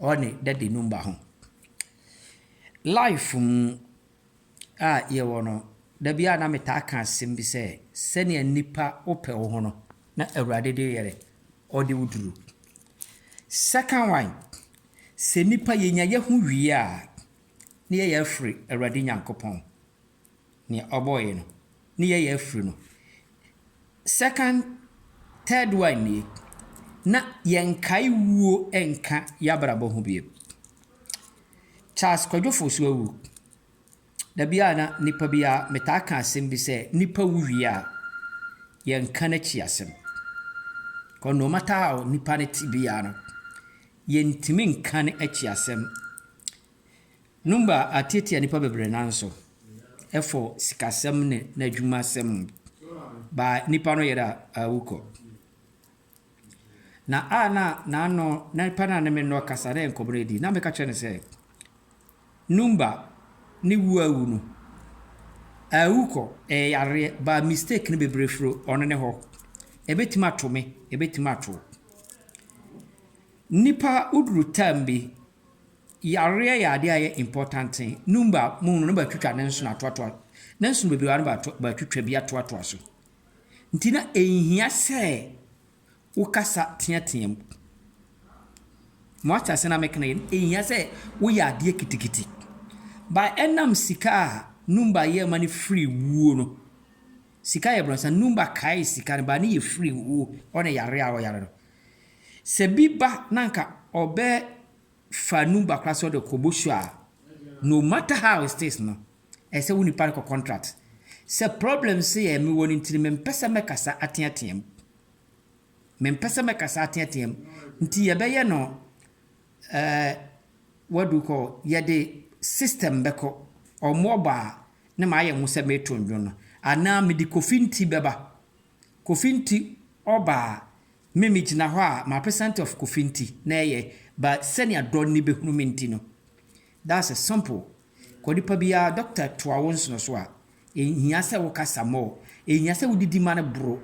ɔne daddy no mma ho. Life mu a yɛwɔ no, da bi a na metaa ka asɛm bi sɛ, sɛnea nnipa wopɛ wo ho no, na Awurade de yɛ dɛ, ɔde wo duru. Second one, sɛ nnipa yɛnya yɛn ho wie a, na yɛyɛ afiri Awurade Nyankopɔn. nea ɔbɔɔ yɛ no ne yɛyɛ afiri no second third one nie na yɛnkae wuo nka yɛabrabɔ ho bio Charles Kwadwo Fosu awu da biara na nipa biara metaa ka asɛm bi sɛ nipa wu wie a yɛnka n'akyi asɛm kɔ no matter how nipa no te biara no yɛntumi nka ne akyi asɛm Numba ateetsia nyimpa beberee naaso fo sikasɛm na n'edwumasɛm baa nyimpa no yer awu kɔ. Na a na n'ano na nyimpa no a nna me no rekasa na nkɔmbɔ no redi na meka kyerɛ no sɛ Numba ne wu awu no, awu kɔ, ɛyɛ yareɛ, baa mistake no beberee firi ɔno ne hɔ. Ebetumi ato me, ebetumi ato wo. Nyimpa woduru term bi Yareɛ yɛ adeɛ a ɛyɛ important thing. Num ba mu no na bɛ twitwa ne nsono atoatoa ne nsono bebree a na bɛ twitwa bi atoatoa so. Nti na ɛnhia sɛ wo kasa teatea mu. Mo ate aseɛ na meka no yɛ? Ɛnhia sɛ wo yɛ adeɛ kitikiti. But ɛnam sika a num ba yɛ ma no firi wuo no, sika yɛ brɔnsa, num ba kae sika no but ne yɛ firi wuo ɔne yareɛ a ɔyare no. Sɛ bi ba na nka ɔbɛ fa num bakora sɛ ɔde kɔ bosu a no matter how it is no ɛsɛ wo nipa no kɔ contract sɛ problem sei a mewɔ no nti no mempɛ sɛ mɛkasa ateateam mempɛ sɛ mɛkasa ateateam nti yɛbɛyɛ no eh, what do you call yɛde system bɛkɔ ɔmo ɔba a na maayɛ ho sɛ meeto ndwon no anaa mede kofi nti bɛba kofi nti ɔba a Me me gyina hɔ a ma present of Kofi nti na ɛyɛ but sɛnea dɔ nni bɛhunu me nti no that's a simple kɔ nipa biara doctor toa wo nsono so a ɛnhia sɛ wo kasa more ɛnhia sɛ wo didi ma no boro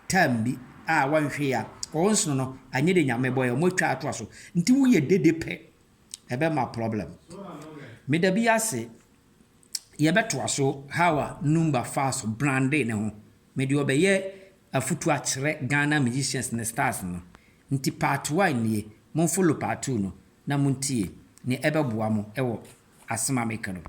time bi a wanhwɛ yi a ɔwɔ nsono no anyɛ deɛ Nyame bɔɛ ɔmo atwa ato aso nti wo yɛ dede pɛ ɛbɛ ma problem me da bi ase yɛbɛ toa so how a Numba faa so brandee ne ho me deɛ ɔbɛyɛ afutu akyerɛ Ghana musicians ne stars no nti part one nie monfollow part two no na montie nea ɛbɛboa mo wɔ asem a meka no mu.